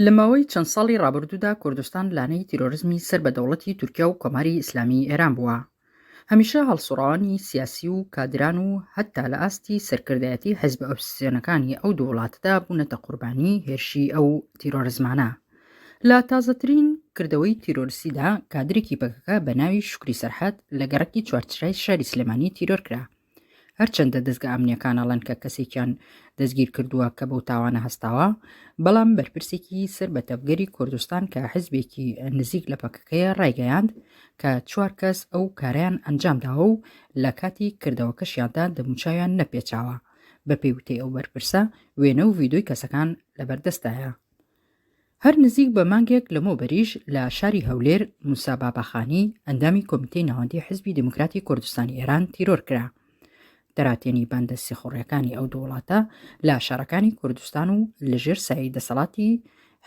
لە ماوەی چەند ساڵی ڕابردوودا کوردستان لانەی تیرۆرزمی سەر بە دەوڵەتی تورکیا و کۆماری ئیسلامی ئێران بووە هەمیشە هەڵسوڕاوانی سیاسی و کادران و هەتا لە ئاستی سەرکردایەتی حزب ئۆپسیۆنەکانی ئەو دوو وڵاتدا بوونەتە قوربانی هێرشی ئەو تیرۆرزمانە لە تازەترین کردەوەی تیرۆرسیدا کادرێکی پەکەکە بە ناوی شکری سەرحەت لە گەڕکی چوارچرای شاری سلێمانی تیرۆر کرا هەرچەندە دەزگە ئەمنیەکان ئەڵێن کە کەسێکیان دەستگیر کردووە کە بەو تاوانە هەستاوە بەڵام بەرپرسێکی سەر بە تەڤگەری کوردستان کە حزبێکی نزیک لە پەکەکەیە ڕایگەیاند کە چوار کەس ئەو کاریان ئەنجام داوە و لە کاتی کردەوەکەشیاندا دەموچاویان نەپێچاوە بە پێی وتەی ئەو بەرپرسە وێنە و ڤیدۆی کەسەکان لەبەردەستایە هەر نزیک بە مانگێک لەمەوبەریش لە شاری هەولێر موسا باباخانی ئەندامی کۆمیتەی ناوەندی حزبی دموکراتی کوردستانی ئێران تیرۆر کرا. دەراتێنی باندە سیخوڕیەکانی ئەو دووڵاتە لە شارەکانی کوردستان و لەژێر سایی دەسەڵاتی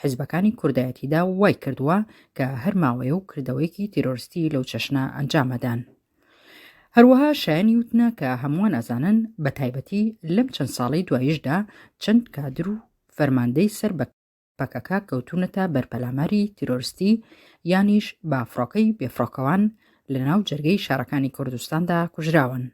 حزبەکانی کوردایەتیدا وای کردووە کە هەر ماوەیە و کردەوەیەکی تیرۆرستی لەو چەشنە ئەنجامەدان. هەروەها شایانی وتنە کە هەمووان ئەزانن بە تایبەتی لەم چەند ساڵی دوایشدا چەند کادر و فەرماندەی سەر بە پەکەکە کەوتوونەتە بەر پەلاماری تیرۆرستی یانیش بە فڕۆکەی بێفڕۆکەوان لە ناو جەرگەی شارەکانی کوردستاندا کوژراون.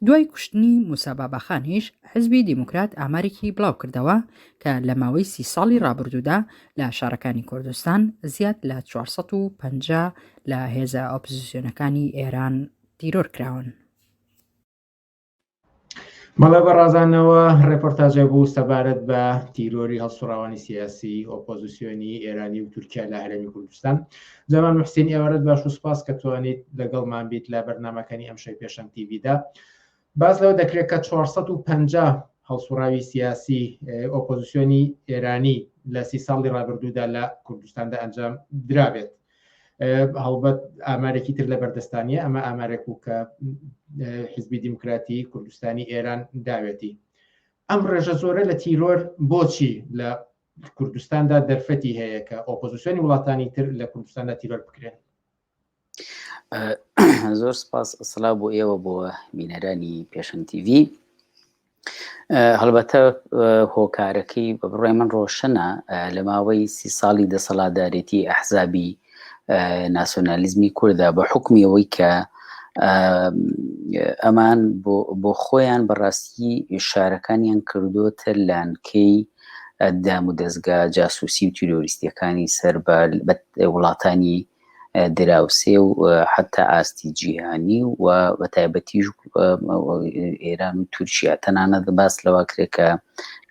دوای کوشتنی موساباباخانیش حزبی دیموکرات ئامارێکی بڵاو کردەوە کە لە ماوەی سی ساڵی ڕابردوودا لە شارەکانی کوردستان زیاد لە 450 لە هێزە ئۆپزیسیۆنەکانی ئێران تیرۆر کراون. مەڵێ بە ڕازانەوە ڕێپۆرتاجە بوو سەبارەت بە تیرۆری هەڵسوڕاوانی سیاسی ئۆپۆزیسیۆنی ئێرانی و تورکیا لە هەرێمی کوردستان جەمان محسین ئێوارەت باش و سپاس کە توانیت لەگەڵمان بیت لە بەرنمەکانی ئەم شەی پێشەن تیویدا باز لەوە دەکرێت کە 450 هەڵسوڕاوی سیاسی ئۆپۆزیسیۆنی ئێرانی لە سی ساڵی ڕابردوودا لە کوردستاندا ئەنجام درابێت هەڵبەت ئامارێکی تر لە بەردەستانیە ئەمە ئامارێک و کە حزبی دیموکراتی کوردستانی ئێران داوێتی ئەم ڕێژە زۆرە لە تیرۆر بۆچی لە کوردستاندا دەرفەتی هەیە کە ئۆپۆزیسیۆنی وڵاتانی تر لە کوردستاندا تیرۆر بکرێن زۆر سپاس سلا بۆ ئێوە بۆ بینەرانی پێشەن تیڤ هەڵبەتە هۆکارەکەی بە بڕای من ڕۆشنە لە ماوەی سی ساڵی دەسەڵاتدارێتی ئەحزابی ناسۆنالیزمی کووردا بە حکمی ئەوەی کە ئەمان بۆ خۆیان بەڕاستی شارەکانیان کردوتە لانکەی دام و دەستگا جاسوسی و تیرۆریستیەکانی سەر بە وڵاتانی دراوسێ و حتا ئاستی جیهانی و بە تایبەتیش ئێران و تورکیا تەنانەت باس لەوە کرێت کە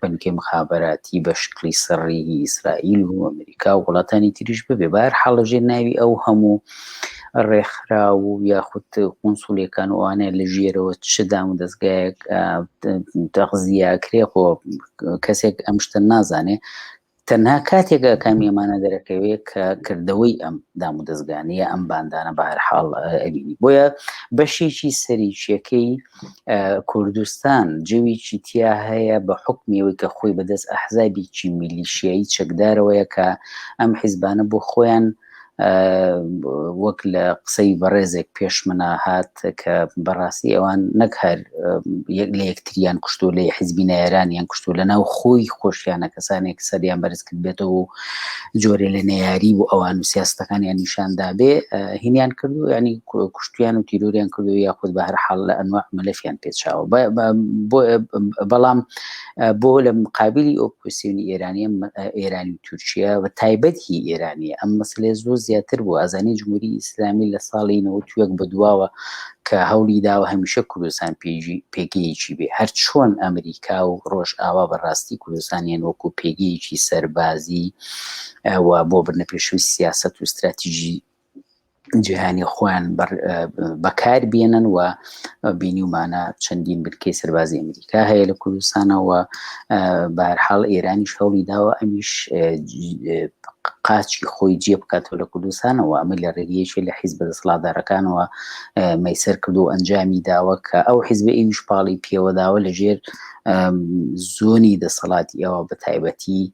بنکەی مخابراتی بە شکلی سڕی ئیسرائیل و ئەمریکا و وڵاتانی تریش ببێ بار حاڵژێ ناوی ئەو هەموو ڕێکخرا و یاخود قونسولەکان وانە لە ژێرەوە چدام و دەستگایەک دەغزیاکرێ خۆ کەسێک ئەم شتە نازانێ تەنها کاتێک ئاکامی ئەمانە دەرەکەوێت کە کردەوەی ئەم دام و دەستگانەیە ئەم باندانە بە هەر حاڵ ئەبینی بۆیە بەشێکی سەریچیەکەی کوردستان جویی تیا هەیە بە حکمیەوەی کە خۆی بەدەست ئەحزابیی میلیشیایی چەکدارەوەیە کە ئەم حیزبانە بۆ خۆیان وەک لە قسەی بەڕێزێک پێشمەنا هات کە بەڕاستی ئەوان نەک هەر یەک لە یەکتریان کوشتو لە حزبی نەیاران یان کوشتو لە ناو خۆی خۆشیانە کەسانێک سەریان بەرز کرد بێتەوە و جۆرێ لە نەیاری و ئەوان و سیاستەکانیان نیشاندا بێ هینیان کردو ینی کوشتیان و تیرۆریان کردو یاخود بە هەر حاڵ لە ئەنواع مەلەفیان پێچاوە بەڵام بۆ لە مقابلی ئۆپۆسیۆنی ئێرانی ئێرانی و تورکیا و تایبەت هی ئێرانی ئەم مەسلێ زۆر زیاتر بوو ئازانی جمهوری ئیسلامی لە ساڵی نەوەک بە دواوە کە هەولی داوە هەمیشە کوردستان پێژی پێگەیەکی بێ هەر چۆن ئەمریکا و ڕۆژ ئاوا بەڕاستی کوردستانیان وەکو پێگەیەکی سەربازی و بۆ بنە پێشوی سیاست و استراتیژی جیهانی خۆیان بەکاربیێنن و بینیمانە چەندین بنکەی سەربازی ئەمریکا هەیە لە کوردستانەوە بارحاڵ ئێرانی شەڵی داوە ئەمیش قاچی خۆی جێ بکاتەوە لە کوردستانەوە ئەمە لە ڕێگەیەکی لە حیز بە دەسڵادارەکانەوە مەسەر کردو و ئەنجامی داوە کە ئەو حیزب ئیوش پاڵی پێوەداوە لە ژێر زۆنی دەسەڵاتی ئەوە بە تایبەتی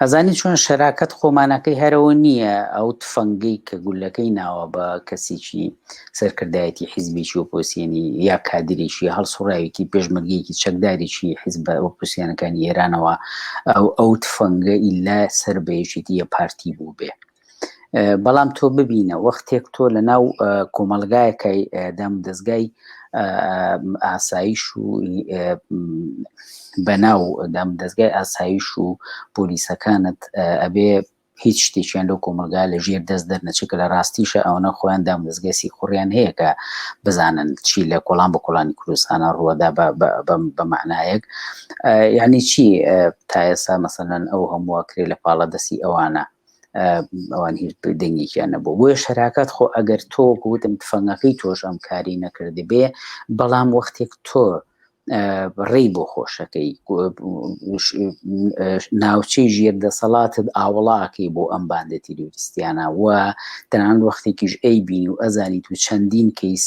ئەزانی چۆن شەراکەت خۆمانەکەی هەرەوە نییە ئەو تفەنگەی کە گولەکەی ناوە بە کەسێکی سەرکردایەتی حیزبێکی ئۆپۆسیێنی یا کادرێکی هەڵسوڕاوێکی پێشمەرگەیەکی چەکدارێکی حیزبە ئۆپۆسیانەکانی ئێرانەوە ئەو ئەو تفەنگە ئیلا سەر بەیەکێتی یە پارتی بوو بێ بەڵام تۆ ببینە وەختێک تۆ لە ناو کۆمەلگایەکەی دام دەستگای ئاسایش و بەناو دام دەستگای ئاسایش و پۆلیسەکانت ئەبێ هیچ شتێکیان لەو کۆمەلگا لە ژێر دەست دەرنەچێت کە لە ڕاستیشە ئەوەنە خۆیان دام دەستگەسی خوڕیان هەیە کە بزانن چی لە کۆڵان بە کۆڵانی کوردستانە ڕووەدا بە معنایەک یعنی چی تایەسا مەسەەن ئەو هەمووە کرێ لە پاڵە دەستی ئەوانە ئەوان هیچ دەنگێکیان نەبوو بۆیە شەراکات خۆ ئەگەر تۆ گوتم تفەنگەکەی تۆش ئەم کاری نەکردی بێ بەڵام وەختێک تۆ ڕێی بۆ خۆشەکەی ناوچەی ژێر دەسەڵاتت ئاوڵاکەی بۆ ئەم باندە تیرۆریستیانە و تەنان وەختێکیش ئەی بین و ئەزانی تو چەندین کەیس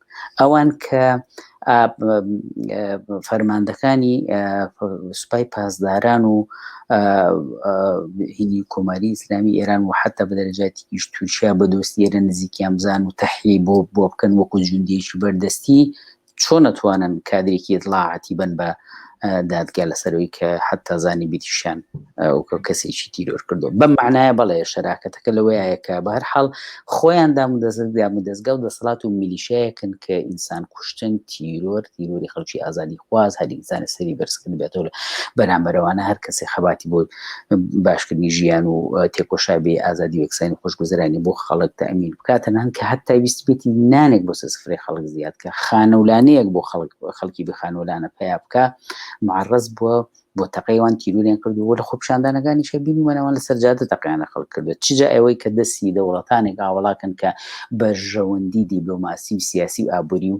ئەوان کە فەرماندەکانی سوپای پاسداران و هینی کۆماری ئیسلامی ئێران و حتا بە دەرەجاتیش تورکیا بە دۆستی ئێرە نزیکیان بزان و تەحی بۆ بۆ بکەن وەکو جوندێکی بەردەستی چۆن نەتوانن کادرێکی دڵاعاتی بن بە دادگا لەسەرەوەی کە حتا زانی بیتیشیان ئەوکە کەسێکی تیرۆر کردو بەم معناە بەڵێ شەراکەتەکە لەوەیەکە بە هەر حاڵ خۆیان دام و دەزگام و دەستگا و دەسەڵات و میلیشایەکن کە ئینسان کوشتن تیرۆر تیرۆری خەڵکی ئازادی خواز هەر ئینسانی سەری بەرزکرد بێتەوە بەرامبەرەوانە هەر کەسی خەباتی بۆ باشکردنی ژیان و تێکۆشا بێ ئازادی وەکسانی خۆشگوزرانی بۆ خەڵک تەمین بکاتە نان کە هەتا ویستبێتی نانێک بۆ سەسفرەی خەڵک زیاد کە خانەولانەیەک بۆ خەڵک خەڵکی بخانەولانە پیا بکە معڕز بووە بۆ تەقەیوان تیرورێن کردو لە خۆپشاندانەکانی شەبینی وەنەوان لە سەرجادە تەقیانە خەڵک کردو چجا ئەوەی کە دەستی دەوڵەتانێک ئاوەڵاکەن کە بەرژەوەندی دیبلۆماسی و سیاسی و ئابووری و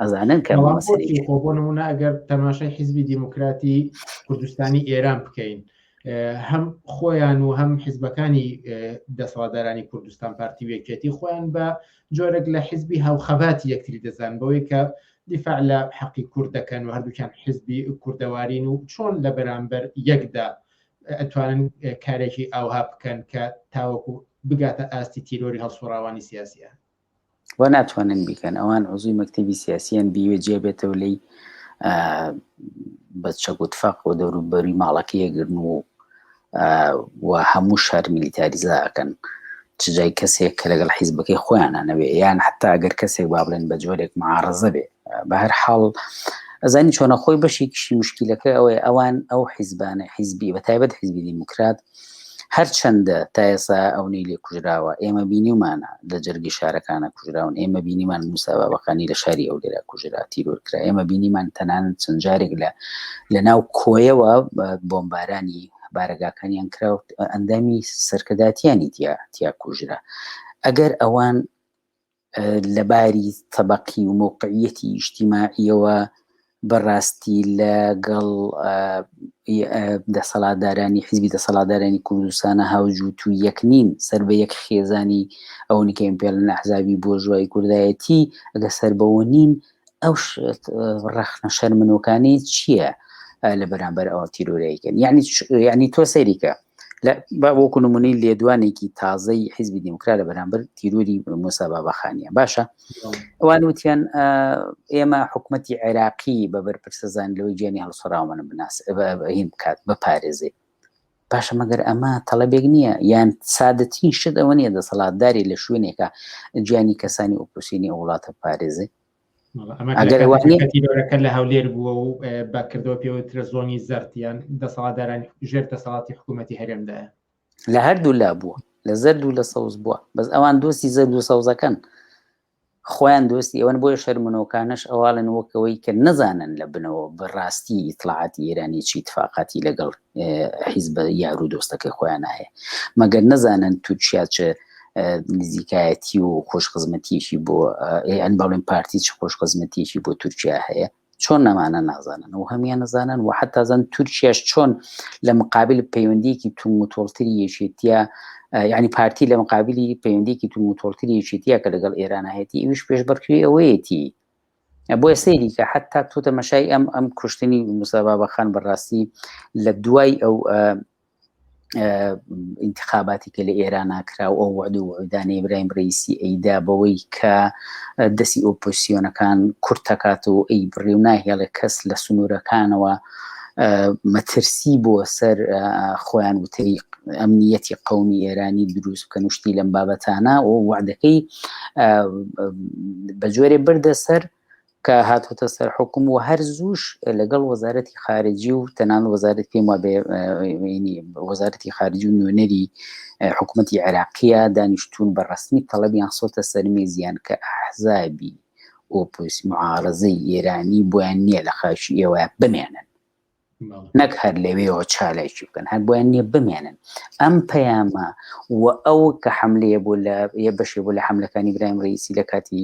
ئەزانن کە بۆنمونە ئەگەر تەماشای حیزبی دیموکراتی کوردستانی ئێران بکەین هەم خۆیان و هەم حیزبەکانی دەسەڵاتدارانی کوردستان پارتی وێکێتی خۆیان بە جۆرێک لە حیزبی هاوخەبات یەکتری دەزان بەوەی کە دیفاع لە حەقی کورد دەکەن و هەردووکیان حزبی کوردەوارین و چۆن لە بەرامبەر یەکدا ئەتوانن کارێکی ئاوها بکەن کە تاوەکو بگاتە ئاستی تیرۆری هەڵسوڕاوانی سیاسیە و ناتوانن بیکەن ئەوان عزوی مەکتتەبی سیاسیان بیوێ جێ بێتەوە لی بە چەگوتفەق و دەوروبەری ماڵەکە یەگرن و و هەموو شار میلیتاریزاکەن چجای کەسێک کە لەگەڵ حیزبەکەی خۆیانە نەوێ یان حتا ئەگەر کەسێک با بڵێن بە جۆرێک معاڕزە بێ بە هەر حاڵ ئەزانی چۆنە خۆی بەشێکیشی مشکلەکە ئەوەیە ئەوان ئەو حیزبانە حیزبی بە تایبەت حیزبی دیموکرات هەرچەندە تا ئێسا ئەونەی لێ کوژراوە ئێمە بینیمانە لە جەرگی شارەکانە کوژراون ئێمە بینیمان موساوا بەقانی لە شاری ئەو لێرە کوژرا تیرۆرکرا ئێمە بینیمان تەنان چەند جارێک لە لە ناو کۆیەوە بۆمبارانی بارەگاکانیان کراوت ئەندامی سەرکەداتیانی تیا تیا کوژرا ئەگەر ئەوان لە باری تەبەقی و مەوقعیەتی ئیشتیماعیەوە بەڕاستی لە گەڵ دەسەڵاتدارانی حزبی دەسەڵاتدارانی کوردستانە هاوجووت و یەک نین سەر بە یەک خێزانی ئەوەنی کە ئیمپێڵ نەحزابی بۆ ژوای کوردایەتی ئەگە سەر بەوە نین ئەو ڕەخنە شەرمنوکانی چییە لە بەرامبەر ئەوە تیرۆریکن یعنی یعنی تۆ سەیریکە بە وەکو نمونەی لێدوانێکی تازەی حیزبی دیموکرا لە بەرامبەر تیروری موسابا بەخانە باشە ئەوان وتیان ئێمە حکوومەتتی عێراقی بە بەرپرسەزان لەوەی گیانی هەڵسەراومەە بناس هین بکات بە پارێزێ باشە مەگەر ئەمە تەڵەبێک نییە یان سادەترین شت ئەوە نیە دەسەڵاتداری لە شوێنێکە جیانی کەسانی ئۆپۆسینی ئەو وڵاتە پارێزێ ئەگەرەکە لە هەولێر بووە و بەکردەوە پێوترە زۆنی زەرتیان دەسەڵاتداران ژێر دەسەڵاتی حکوومەتتی هەرێمدایە لە هەردوو لا بووە لە زەرد و لە سەوز بووە بەس ئەوان دۆستی زەرد و سەوزەکەن خۆیان دۆستی ئەوەن بۆیە شەرمنۆکانەش ئەواڵێن وەک ئەوەی کە نەزانن لە بنەوە بەڕاستی ئیتڵاعاتی ئێرانی چی تفاقاتی لەگەڵ حیزبە یار و دۆستەکەی خۆیان هەیە مەگەر نەزانن تورکیا چ نزیکایەتی و خۆشخزمەتیشی بۆ ئەن بەڵێن پارتی چ خۆشخزمەتیشی بۆ تورکیا هەیە چۆن نەمانە نازانن و هەمیان نەزانن و حتا زەن تورکیاش چۆن لە مقابل پەیوەندیکی تون متۆڵتری یەکێتیە یعنی پارتی لە مقابلی پەیوەندیکی تون متۆڵتری یەکێتیە کە لەگەڵ ئێران هەیەی ئەوش پێش بەرکری ئەوەیەتی بۆیە سەیری کە حتا تۆ تەمەشای ئەم ئەم کوشتنی مسابابەخان بەڕاستی لە دوای ئەو ئینتخاباتی کە لە ئێران ناکرا و ئەو وعد و وعودانی ئیبراهیم ڕیسی ئەیدا بەوەی کە دەستی ئۆپۆسیۆنەکان کورت دەکات و ئەی بڕی و ناهێڵێ کەس لە سنوورەکانەوە مەترسی بۆ سەر خۆیان وتەی ئەمنیەتی قومی ئێرانی دروست بکەن وشتی لەم بابەتانە و وعدەکەی بە جۆرێ بردە سەر کە هاتۆتە سەر حکوم و هەر زووش لەگەڵ وەزارەتی خارجی و تەنان وەزارەت پێم وابێ وەزارەتی خارجی و نوێنەری حکوومەتتی عێراقیە دانیشتون بە ڕسمی تەڵەبیان سۆتە سەرمێزیان کە ئەحزابی ئۆپۆس معارزەی ئێرانی بۆیان نییە لە خاچی ئێوە بمێنن نەک هەر لەوێەوە چالاکی بکەن هەر بۆیان نیە بمێنن ئەم پەیامە و ئەو کە حملەیە بۆ لە یە بەشێ بۆ لە حملەکانی برایم ڕیسی لە کاتی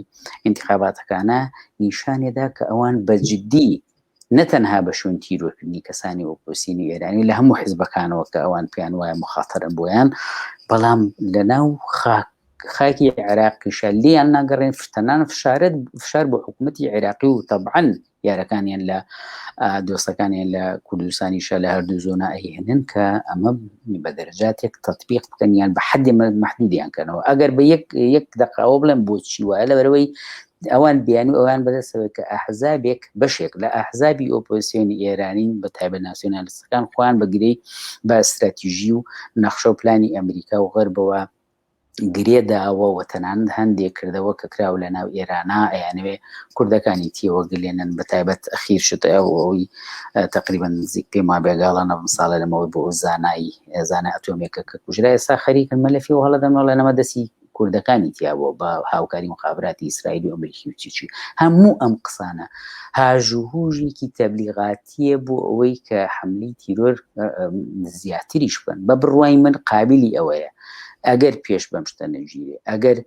انتخاباتەکانە نیشانێدا کە ئەوان بەجددی نەتەنها بە شوێن تیرۆکردنی کەسانی ئۆپۆسینی ئێرانی لە هەموو حزبەکانەوە کە ئەوان پێیان وایە مخاتەرن بۆیان بەڵام لە ناو خاک خاکی عێراقیشە لیان ناگەڕێن فتەنان فشارت فشار بۆ حکوومەتتی عێراقی و تەبعەن یارەکانیان لە دۆستەکانیان لە کوردستانیشە لە هەردوو زۆنا ئەهێنن کە ئەمە بە دەرجاتێک تطببیق بکەنیان بە حەدی محدودیان کەنەوە ئەگەر بە یەک یەک دقاوە بڵێن بۆچی وایە لە بەرەوەی ئەوان بیان و ئەوان بەدەستەوە کە ئەحزابێک بەشێک لە ئەحزابی ئۆپۆسیۆنی ئێرانین بە تایبە ناسیۆنالستەکان خۆیان بەگرەی بە استراتیژی و نەخشە و پلانی ئەمریکا و غەربەوە گرێ داوە و تەنانەت هەندێ کردەوە کە کراوە لە ناو ئێرانا ئەیانەوێ کوردەکانی تێوە گلێنن بە تایبەت ئەخیر شت ئەو ئەوی تەقریبەن نزیک پێم وا بێگاڵە نەبم ساڵە لەمەوەی بۆ ئەو زانایی زانە ئەتۆمێکە کە کوژرا ئێستا خەریکن مەلەفی و هەڵەدەن وڵێ نەمە دەسی کوردەکانی تیابووە بە هاوکاری مخابراتی ئیسرائیلی و ئەمریکی و چیچی هەموو ئەم قسانە هاژوهوژێکی تەبلیغات پێویستیە بۆ ئەوەی کە حملی تیرۆر زیاتریش بن بە بڕوای من قابلی ئەوەیە ئەگەر پێش بەم شتە نەژیرێ ئەگەر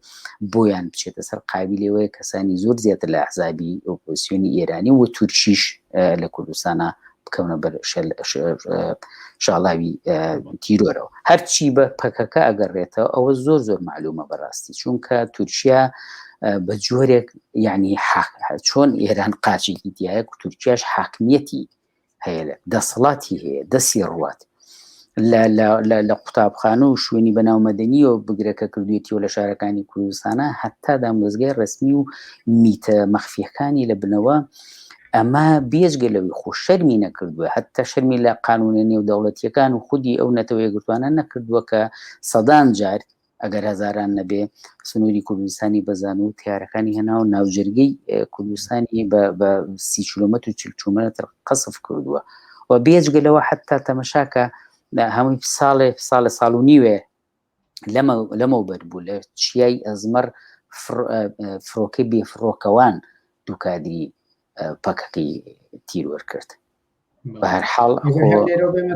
بۆیان بچێتە سەر قابلەوەی کەسانی زۆر زیاتر لە حزابی ئۆپۆسیۆنی ئێرانی و تورکیش لە کوردستانە بکەونە بەر شاڵاوی تیرۆرەوە هەرچی بە پەکەکە ئەگەڕێتەوە ئەوە زۆر زۆر معلومە بەڕاستی چونکە تورکیا بە جۆرێک یعنی چۆن ئێران قاچێکی دیایە و تورکیاش حاکمیەتی هەیە دەسەڵاتی هەیە دەسی ڕوات لە قوتابخانە و شوێنی بەناومەدەنی و بگرەکە کردوێتی و لە شارەکانی کوردستانە هەتا دامۆزگای ڕسمی و میتە مەخفیەکانی لە بنەوە ئەمە بێجگە لەوی خۆ شەرمی نەکردووە هەتا شەرمی لە قانونە نێودەوڵەتیەکان و خودی ئەو نەتەوەیە گرتوانە نەکردووە کە سەدان جار ئەگەر هەزاران نەبێ سنووری کوردستانی بە زانو و تیارەکانی هەنا و ناوجەرگەی کوردستانی بە سی کیلومەت و چل کیلومەتر قەسف کردووە و بێجگە لەوە حتا تەمەشاکە هەمووی ساڵێ ساڵە ساڵ و نیوێ لەمە لەمەو بەر بوو لە چیای ئەزمەر فرۆکەی بێفرۆکەوان دووکادری پەکەکەی تیرۆر کرد بەهرحاڵ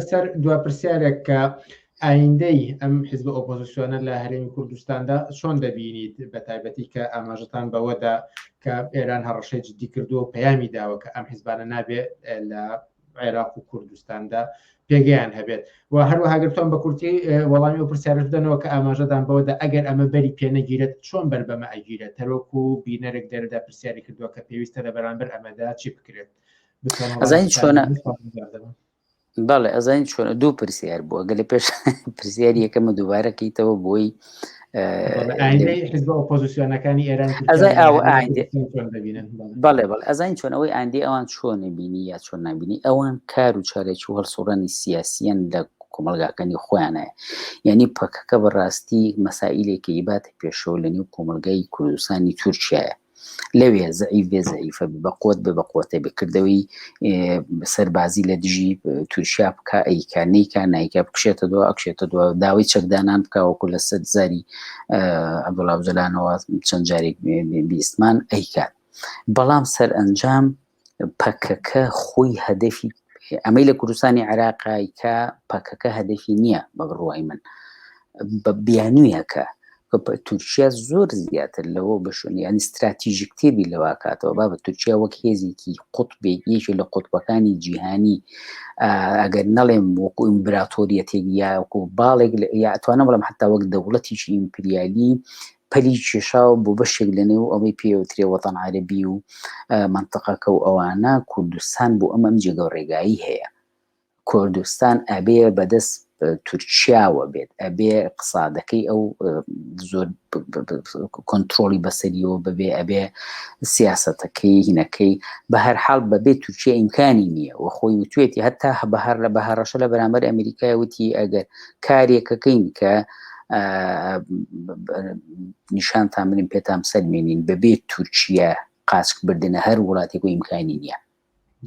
سەر دو پرسیارێک کە ئایندەی ئەم حزب ئۆپۆزیسیۆنە لە هەرێمی کوردستاندا چۆن دەبینیت بە تایبەتی کە ئاماژتان بەوەدا کە ئێران هەڕەشەی جددی کردو و پەیامی داوە کە ئەم حزبانە نابێت لە عێراق و کوردستاندا پێگەیان هەبێت و هەروەهاگرتوان بە کورتی وەڵامی و پرسیارش دەنەوە کە ئاماژەدان بەوەدا ئەگەر ئەمە بەری پێنەگیرێت چۆن بەر بەمە ئەگیرێت تەرۆک و بینەرێک دەردا پرسیاری کردووە کە پێویستە لە بەرامبەر ئەمەدا چی بکرێت ئەزانی چۆنە بەڵێ ئەزانین چۆن دوو پرسیار بووە گەلە پێش پرسیار یەکەمە دووبارەکەیتەوە بۆی ئۆپۆزیسیۆنەکانی ئێران ئەزای ئەوە بەڵێ بەڵ ئەزانین چۆن ئەوەی ئاندی ئەوان چۆنە بینی یا چۆن نبینی ئەوان کار و چارێکی و هەڵسوڕانی سیاسیەن لە کۆمەلگاکانی خۆیانەیە یعنی پەکەکە بەڕاستی مەسائلێکی ئیباتە پێشەوە لە نێو کۆمەلگای کوردستانی تورکایە لەوێ زەعیف بێ زەعیفە بێ بە قوت بێ بە قوتە بێ کردەوەی سەربازی لە دژی تورکیا بکە ئەیکا نیکە نیکە بکشێتە دو ئەکشێتە دو داوای چەکدانان بکەوەکو لە سەر زاری عبدڵاوجلانەوە چەند جارێک بیستمان ئەیکات بەڵام سەر ئەنجام پەکەکە خۆی هەدەفی ئەمەی لە کوردستانی عێراقای کە پەکەکە هەدەفی نییە بە بڕوای من بە بیانویەکە تورکیا زۆر زیاتر لەوە بەشون یعنی استراتیژی کتێبی لەوا کاتەوە با بە تورکیا وەک هێزێکی قوتبێک یەکی لە قوتبەکانی جیهانی ئەگەر نەڵێم وەکو ئیمبراتۆریەتێک یاکو باڵێک یاتوانە بڵم حتا وەک دەوڵەتیشی ئیمپریالی پەلی کێشاوە بۆ بەشێک لە نێو ئەوەی پێوترێ وەتەن عەرەبی و منتەقەکە و ئەوانە کوردستان بۆ ئەم ئەم جێگە و ڕێگایی هەیە کوردستان ئەبێ بەدەست تورکیاوە بێت ئەبێ قسادەکەی ئەو زۆر کۆنتترۆلی بەسەریەوە ببێ ئەبێ سیاستەکەی هینەکەی بە هەر حاڵ بەبێ تورکیا ئیمکانی نییە و خۆی وتێتی هەتا هە بە هەر لە بە هەڕەشە لە بەرامبەر ئەمریکای وتی ئەگەر کارێکەکەین کە نیشان تا منیم پێتام سەلمێنین بەبێت تورکیا قاسک بردنە هەر وڵاتێک و ئیمکانی نییە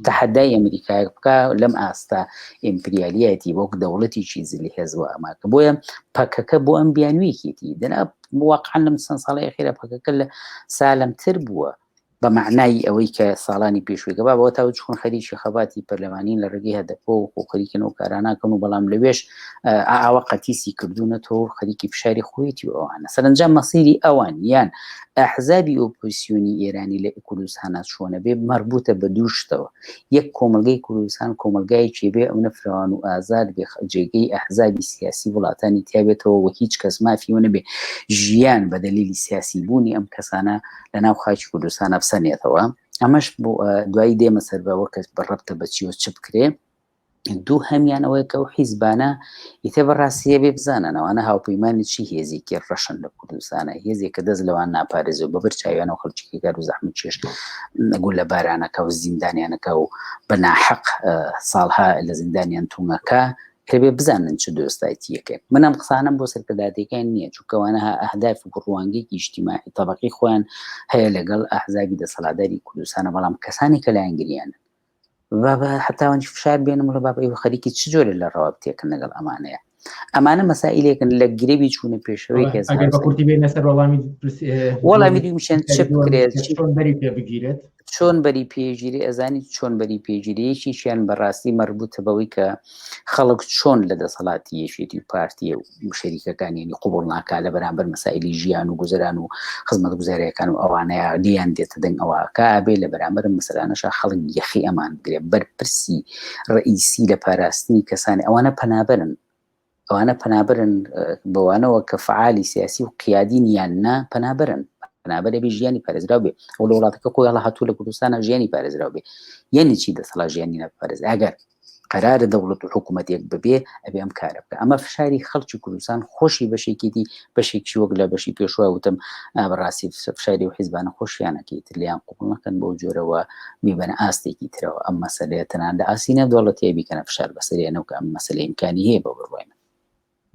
تەحدای ئەمریکای بکە لەم ئاستا ئیمپریالیەتی وەک دەوڵەتیی زلی هێزوە ئەماکە بۆیە پەکەکە بۆ ئەم بیانویەکێتی دەنا واقعان لەم چەند ساڵی خێرە پەکەکە لە سالمتر بووە بە مەعنای ئەوەی کە ساڵانی پێشووی گەبا بەوە تاوت چون خەریکی خەباتی پەرلەمانین لە ڕێگەی هەدەپۆ و خۆخەریکن و کاراناکەن و بەڵام لەوێش ئاوە قەتیسی کردوونە تۆ خەریکی فشاری خۆیەتی و ئەوانە سەرنجام مەسیری ئەوان یان ئەحزابی ئۆپۆسیۆنی ئێرانی لە کوردستانە چۆنە بێ مەربوتە بە دووشتەوە یەک کۆمەلگەی کوردستان کۆمەلگایەکی بێ ئەو نەفرەوان و ئازاد بێ جێگەی ئەحزابی سیاسی وڵاتانی تیاێتەوە و هیچ کەس مافیەوە نەبێ ژیان بە دەلیلی سیاسی بوونی ئەم کەسانە لە ناو خاکی کوردستانە بسەنێتەوە ئەمەش بۆ دوایی دێمە سەر بەوە کەس بەڕەبتە بەچیەوە چ بکرێ دوو هەمیان ئەوەیە کە و حیزبانە ئیتە بەڕاستیە بێ بزانانەوەە هاوپەیمانانی چی هێزیکی ڕەشن لە کوردستانە هێزێک کە دەست لەوان ناپارێز و بەبەر چاویان و خەڵکی گەر و زەحمە چێش نەگو لە بارانەکە و زیندانیانەکە و بەناحەق ساڵها لە زیندانیان تومەکە کەبێ بزانن چ دۆستایتی یەکێک منم قسانم بۆ سەرکەداتەکان نییە چونکەوانە ها ئەهداف و ڕوانگەیەکی نیشتیمانی تەبقی خۆیان هەیە لەگەڵ ئەحزابی دەسەڵاداری کوردستانە بەڵام کەسانی کە لایەنگریان بابە حتاوان فشار بێنم لە باب ئەو خەریکی چ جۆرە لە ڕەواب تێکن لەگەڵ ئەمانەیە ئەمانە مەسائلێکن لە گرێبی چوونە پێشەوەی کەس وەڵامی دومیشێن چ بکرێت بەری پێ بگیرێت چۆن بەری پێگیری ئەزانی چۆن بەری پێگیریەکیشیان بەڕاستی مەربوتە بەوەی کە خەڵک چۆن لە دەسەڵاتی یەشێتی و پارتیە و شەریکەکانیانی قوبڵ ناکا لە بەرامبەر مەسایلی ژیان و گوزران و خزمەت گوزاریەکان و ئەوانەیە دیان دێتە دەنگ ئەوەکە بێ لە بەرامبەر مەسەلانەشە خەڵک یەخی ئەمان بگرێ بەرپرسی ڕئیسی لە پاراستنی کەسانی ئەوانە پەنابەرن ئەوانە پەنابرن بەوانەوە کە فعالی سیاسی و قیادین یان نا پەنابرن پەنابەرێ بێ ژیانی پارێزراو بێ ئەو لە وڵاتەکە خۆی هەڵ هاتوو لە کوردستانە ژیانی پارێزراو بێ یعنی چی دەسەڵا ژیانی نەپارێز ئەگەر قرارە دەوڵەت و حکوومەتێک ببێ ئەبێ ئەم کارە بکە ئەمە فشاری خەڵکی کوردستان خۆشی بەشێکیدی بەشێکی وەک لە بەشی پێشوا وتم بەڕاستی فشاری و حیزبانە خۆشیانەکەی تر لیان قوبڵ نەکەن بۆ جۆرەوە میبەن ئاستێکی ترەوە ئەم مەسلەیە تەنان لە ئاسی نەدوڵەتیە بیکەنە فشار بەسەریانەوە کە ئەم مەسلەیمکانی هەیە بە بڕوای من